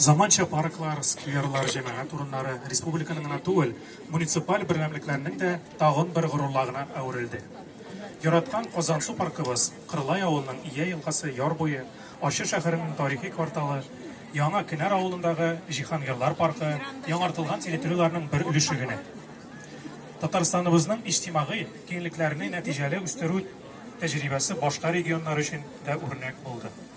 Заманча парклар, скверлар, җәмәгать урыннары республиканың гына түгел, муниципаль берәмлекләрнең дә тагын бер горурлыгына әверелде. Яраткан Казансу паркыбыз, Кырлай авылының Ия елгасы яр буе, Ачы шәһәренең тарихи кварталы, Яңа Кенәр авылындагы Җиһангирлар паркы яңартылган территорияләрнең бер өлеше генә. Татарстаныбызның иҗтимагый киңлекләрне нәтиҗәле үстерү тәҗрибәсе башка регионнар өчен дә үрнәк булды.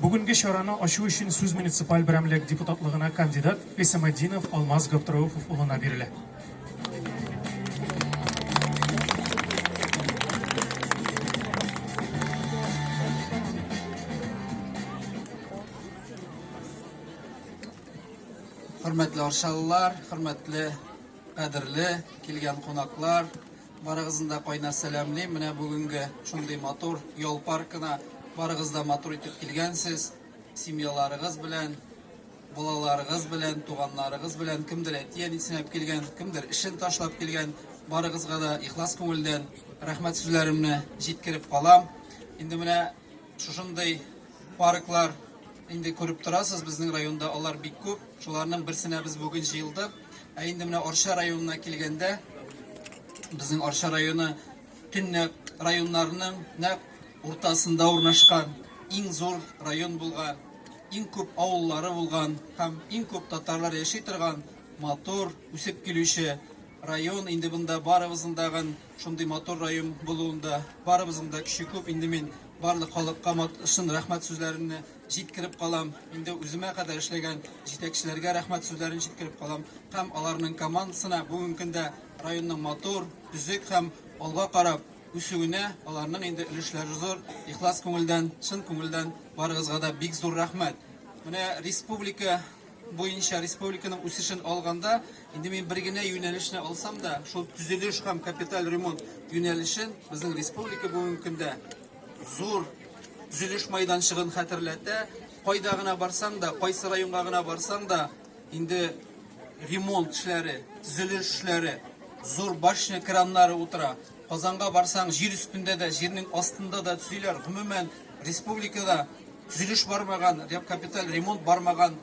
Бүгенге чараны ачу өчен сүз муниципаль берәмлек депутатлыгына кандидат Гыйсаметдинов Алмаз Габдрәүфов улына бирелә. Хөрмәтле арчалылар, хөрмәтле, кадерле килгән кунаклар, Барыгызны да кайнар сәламлим. Менә бүгенге шундый матур ял паркына барыгыз да матур итеп килгәнсез. Семьяларыгыз белән, балаларыгыз белән, туганнарыгыз белән, кемдер әти-әнисен алып килгән, кемдер эшен ташлап килгән. Барыгызга да ихлас күңелдән рәхмәт сүзләремне җиткереп калам. Инде менә Шушындый парклар инде күреп торасыз, безнең районда алар бик күп. Шуларның берсенә без бүген җыелдык. Ә инде менә Арча районына килгәндә, безнең Арча районы төньяк районнарының нәкъ уртасында урнашкан, иң зур район булган, иң күп авыллары булган һәм иң күп татарлар яши торган матур, үсеп килүче район. Инде бында барыбызның да Шундый матур район булуында барыбызның да көче күп. Инде мин барлык халыкка шын рәхмәт сүзләремне җиткереп калам. Инде үземә кадәр эшләгән җитәкчеләргә рәхмәт сүзләрен җиткереп калам. Һәм аларның командасына бүгенге көндә районның матур, төзек һәм алга карап үсүенә аларның инде өлешләре зур. Ихлас күңелдән, чын күңелдән барыгызга да бик зур рәхмәт. Менә республика буенча республиканың үсешен алганда, инде мин бер генә юнәлешне алсам да, шул төзелеш һәм капиталь ремонт юнәлешен безнең республика бүгенге көндә зур төзелеш майданчыгын хәтерләтә. Кайда гына барсаң да, кайсы районга гына барсаң да, инде ремонт эшләре, төзелеш эшләре, зур башня краннары утыра. Казанга барсаң, җир өстендә дә, җирнең астында да төзиләр. Гомумән, республикада Төзелеш бармаган, ягъ капиталь ремонт бармаган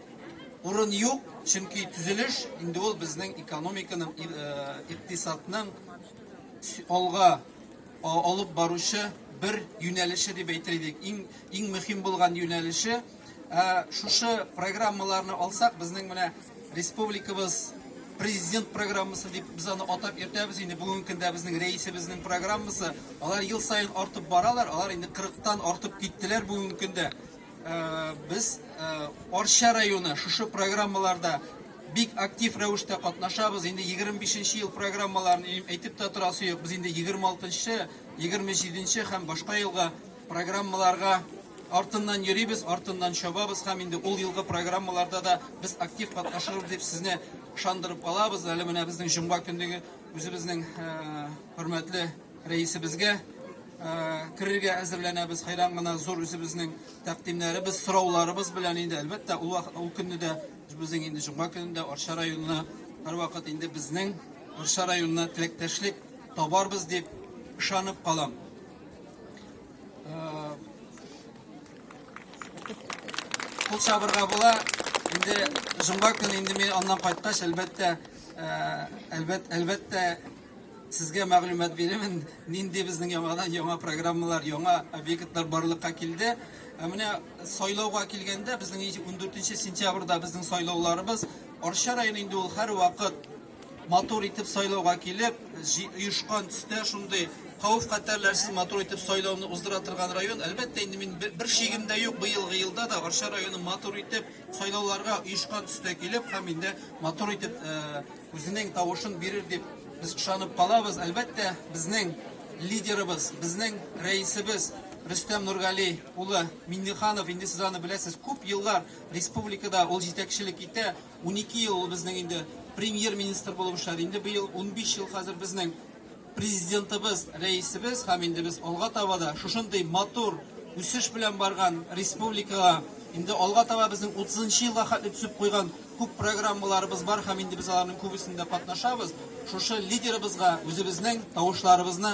урын юк, чөнки төзелеш инде ул безнең экономиканың, икътисадның алга алып баручы бер юнәлеше дип әйтер идек. Иң иң мөһим булган юнәлеше. Ә шушы программаларны алсак, безнең менә Республикабыз президент программасы дип без аны атап йөртәбез инде бүгенге көндә безнең рәисебезнең программасы алар ел саен артып баралар алар инде кырыктан артып киттеләр бүгенге көндә э, без э, арча районы шушы программаларда бик актив рәвештә катнашабыз инде 25 ел программаларын әйтеп тә торасы юк без инде 26 27 һәм башка елга Программаларга артыннан йөрибез, артыннан чабабыз һәм инде ул елгы программаларда да без актив катнашырбыз дип сезне ышандырып калабыз. Әле менә безнең җомга көнлеге үзебезнең хөрмәтле рәисебезгә керергә әзерләнәбез. Хәйран гына зур үзебезнең тәкъдимнәребез, сорауларыбыз белән инде әлбәттә ул ул көнне дә безнең инде җомга көнендә Арча районына һәрвакыт инде безнең Арча районына теләктәшлек табарбыз дип ышанып калам. Кул чабырга була. Инде җомга көне инде мин аннан кайткач, әлбәттә, әлбәт, әлбәттә, сезгә мәгълүмат бирәмен, нинди безнең яңадан яңа программалар, яңа объектлар барлыкка килде. Ә менә сайлауга килгәндә, безнең 14 сентябрьдә безнең сайлауларыбыз Арча районы инде ул һәрвакыт матур итеп сайлауга килеп, оешкан төстә шундый хәвеф хәтәрләрсез матур итеп сайлауны уздыра торган район. Әлбәттә, инде мин бер шигем дә юк, быелгы елда да Арча районы матур итеп сайлауларга оешкан төстә килеп һәм инде матур итеп э, үзенең тавышын бирер дип без ышанып калабыз. Әлбәттә, безнең лидерыбыз, безнең рәисебез Рөстәм Нургали улы Минниханов, инде сез аны беләсез, күп еллар республикада ул җитәкчелек итә. Унике ел ул безнең инде премьер-министр булып эшләде. Инде быел унбиш ел хәзер безнең Президентыбыз, Рәисебез һәм инде без алга таба да шушындый матур үсеш белән барган республикага, инде алга таба безнең утызынчы елга хәтле төзеп куйган күп программаларыбыз бар һәм инде без аларның күбесендә катнашабыз. Шушы лидерыбызга үзебезнең тавышларыбызны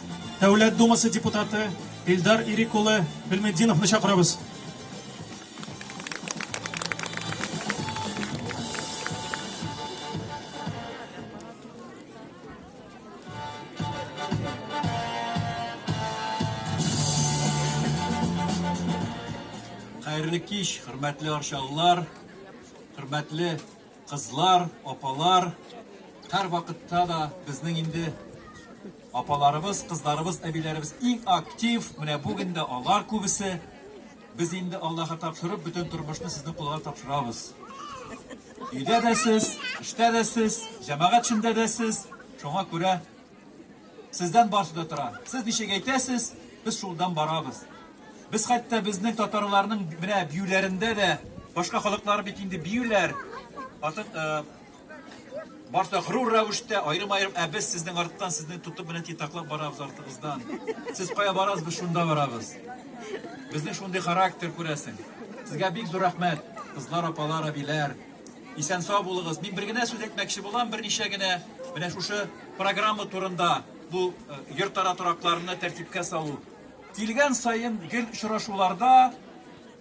Дәүләт Думасы депутаты Илдар Ирек улы Гыйльметдиновны чакырабыз. Хәерле кич, хөрмәтле арчалылар, хөрмәтле Кызлар, апалар, һәр вакытта да безнең инде апаларыбыз, кызларыбыз, әбиләребез иң актив. Менә бүген дә алар күбесе. Без инде Аллаһка тапшырып, бөтен тормышны сезнең кулга тапшырабыз. Өйдә дә сез, эштә дә сез, җәмәгать эчендә дә сез. Шуңа күрә Сездән барсы да тора. Сез ничек әйтәсез, без шулдан барабыз. Без хәтта безнең татарларның менә биюләрендә дә башка халыклар бит инде биюләр. Атып э, барса гырур рәвештә аерым-аерым, ә без сезнең арттан сезне тотып менә титаклап барабыз артыгыздан. Сез кая барасыз, без шунда барабыз. Безнең шундый характер күрәсең. Сезгә бик зур рәхмәт, кызлар, апалар, әбиләр. Исән сау булыгыз. Мин бер генә сүз әйтмәкче булам, берничә генә менә шушы программа турында, бу э, йортара торакларны тәртипкә салу. Килгән саен гел очрашуларда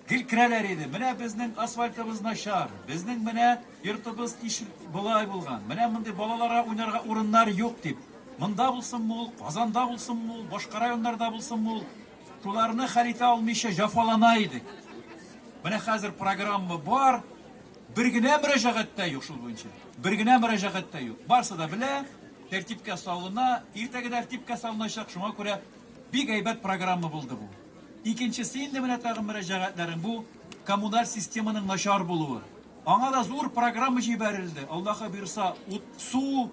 гел керәләр иде. Менә безнең асфальтыбыз начар, безнең менә йортыбыз иш болай булган, менә мондый балаларга уйнарга урыннар юк дип. Монда булсынмы ул, Казанда булсынмы ул, башка районнарда булсынмы ул, Шуларны хәл итә алмыйча җафалана идек. Менә хәзер программа бар, бер генә мөрәҗәгать тә юк шул буенча. Бер генә мөрәҗәгать тә юк. Барсы да белә, тәртипкә салына, иртәгә тәртипкә салыначак. Шуңа күрә бик әйбәт программа булды бу. Икенчесе инде менә тагын мөрәҗәгатьләрен бу коммуналь системаның начар булуы. Аңа да зур программа җибәрелде. Аллаһы бирса, ут, су,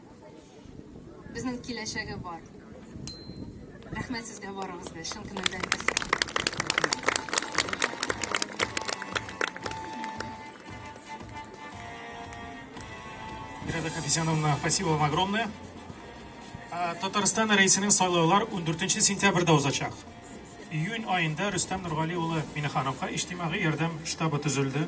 Безнең киләчәге бар. Рәхмәт сезгә барыгызга, чын күңелдән рәхмәт. Мирада Хафизяновна, спасибо вам огромное. Ә, Татарстан рәисенең сайлаулар 14 сентябрьдә узачак. Июнь аенда Рөстәм Нургали улы Минехановка иҗтимагый ярдәм штабы төзелде.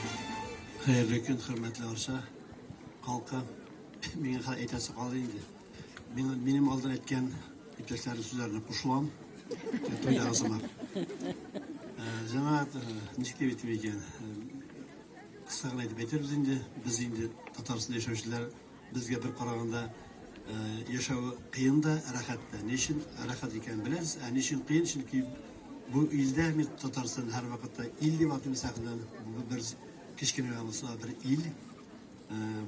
Хәерле көн, хөрмәтле Арча халкы. Миңа хәл әйтәсе калды инде. Мин минем алдан әйткән иптәшләрнең сүзләренә кушылам. Туйда узыма. Җәмәгать ничек дип әйтер икән? Кыска гына әйтеп әйтербез инде. Без инде Татарстанда яшәүчеләр Безгә бер караганда яшәве кыен да, рәхәт тә. Ни өчен рәхәт икәнен беләбез. Ә ни өчен кыен? Чөнки бу илдә без Татарстан һәрвакытта ил дип атыйбыз, әгердән бу бер кечкенә генә булса бер ил.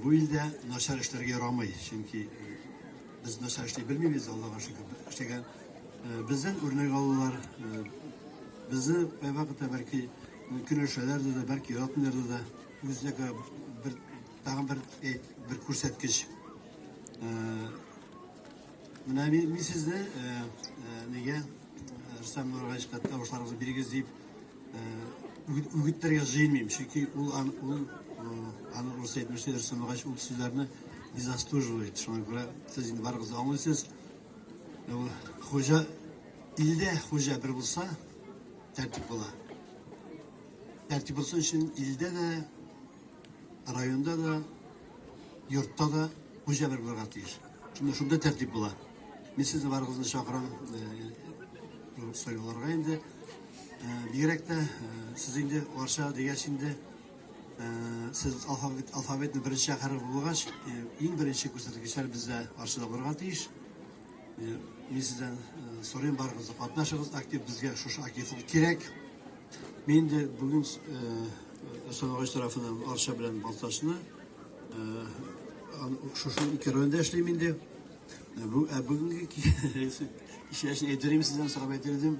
Бу илдә начар эшләргә ярамый, чөнки без начар эшли белмибез, Аллага шөкер. Эшләгән бездән үрнәк алулар, безне кайвакыт та бәлки көнләшәләр дә, бәлки яратмыйлар да. Үзенә күрә бер Тагын бер э, бер күрсәткеч. Э, менә мин, мин сезне э, нигә Рөстәм Нургаевка тавышларыгызны бирегез дип үгетләргә җыенмыйм, чөнки ул ул аны рус әйтмешли Рөстәм Нургаев ул сүзләрне не заслуживает. Шуңа күрә сез инде барыгыз аңлыйсыз. Хуҗа илдә хуҗа бер булса, тәртип була. Тәртип булсын өчен илдә дә Районда да, йортта да хуҗа бер булырга тиеш. Шунда шунда тәртип була. Мин сезне барыгызны чакырам э, сайлауларга инде. Э, бигрәк тә э, сез инде Варша дигәч инде сез алфавит алфавитны беренче хәреф булгач, иң беренче күрсәткечләр бездә Варшада булырга тиеш. Э, мин сездән э, сорыйм барыгызны катнашыгыз актив безгә шушы активлык кирәк мин дә бүген Санагач э, тарафынан Арча белән Балтачны шушы ике районда эшлим инде бүгенге кичәсен әйтерим сездән сорап әйтер идем